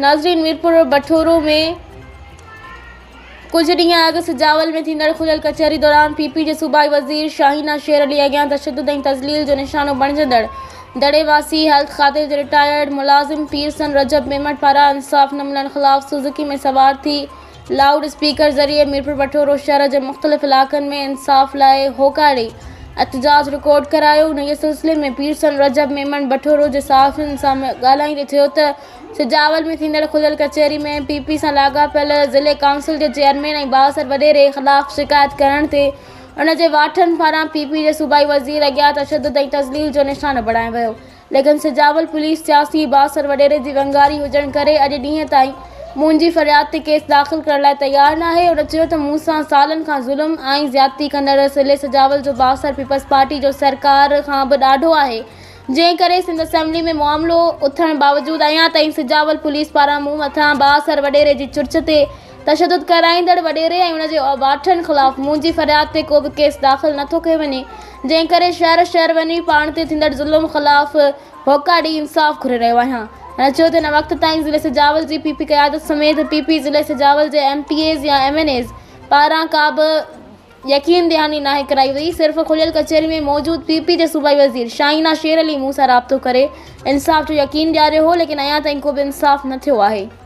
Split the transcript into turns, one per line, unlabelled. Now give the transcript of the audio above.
ناظرين ميرپور بٺورو ۾ ڪجهه ڏينهن اڳ سجاول ۾ ٿيندڙ کليل ڪچهري دوران پي پي جي صوبائي وزير شاهينه شير علي اڳيان تشدد ۽ تذليل جو نشانو بڻجندڙ دڙي واسي هيلٿ کاتي جي رٽائرڊ ملازم پيرسن رجب ميمڻ پاران انصاف نه ملڻ خلاف سوزوڪي ۾ سوار ٿي لائوڊ اسپيڪر ذريعي ميرپورخاص شهر جي مختلف علائقن ۾ انصاف لاء هوڪاري احتجاج رڪارڊ ڪرايو انهيء سلسلي ۾ پيرسن رجب ميمڻ بٺورو جي صحافين سان ڳالهائيندي چيو ته سجاول ۾ ٿيندڙ کليل ڪچهري ۾ پي پي سان لاڳاپيل ضلعي ڪائونسل جي چيئرمين ۽ بااثر وڏيري خلاف شڪايت ڪرڻ تي ان جي واٺن پاران پي پي جي صوبائي وزير اڳيان تشدد ۽ تذليل جو نشانو بڻايو ويو ليڪن سجاول پوليس سياسي بااثر وڏيري جي ونگاري هجڻ ڪري اڄ ڏينهن تائين منهنجي فرياد تي ڪيس داخل ڪرڻ لاء تيار ناهي. هن چيو ته مون سان سالن کان ظلم ۽ زيادتي ڪندڙ سلي سجاول جو بااثر پيپلز پارٽي جو سرڪار کان به ڏاڍو آهي جنهن ڪري سنڌ اسيمبلي ۾ معاملو اٿڻ باوجود اڃا تائين سجاول پوليس پاران مون مٿان بااثر وڏيري جي چرچ تي تشدد ڪرائيندڙ وڏيري ۽ ان جي اوباٽن خلاف منهنجي فرياد تي ڪو به ڪيس داخل نه ٿو ڪيو وڃي، جنهن ڪري شهر شهر وڃي پاڻ تي ٿيندڙ ظلم خلاف هوڪا ڏئي انصاف گهري رهيو آهيان. هن چيو ته هن وقت تائين ضلعي سجاول جي پي پي قيادت سميت پي پي ضلعي سجاول جي ايم پي ايز يا ايم اين ايز پاران ڪا به يقين دهاني ناهي ڪرائي وئي، صرف کليل ڪچهري ۾ موجود پي پي جي صوبائي وزير شاهينه شير علي مون سان رابطو ڪري انصاف جو يقين ڏياريو هو، ليڪن اڃا تائين ڪو به انصاف نه ٿيو آهي.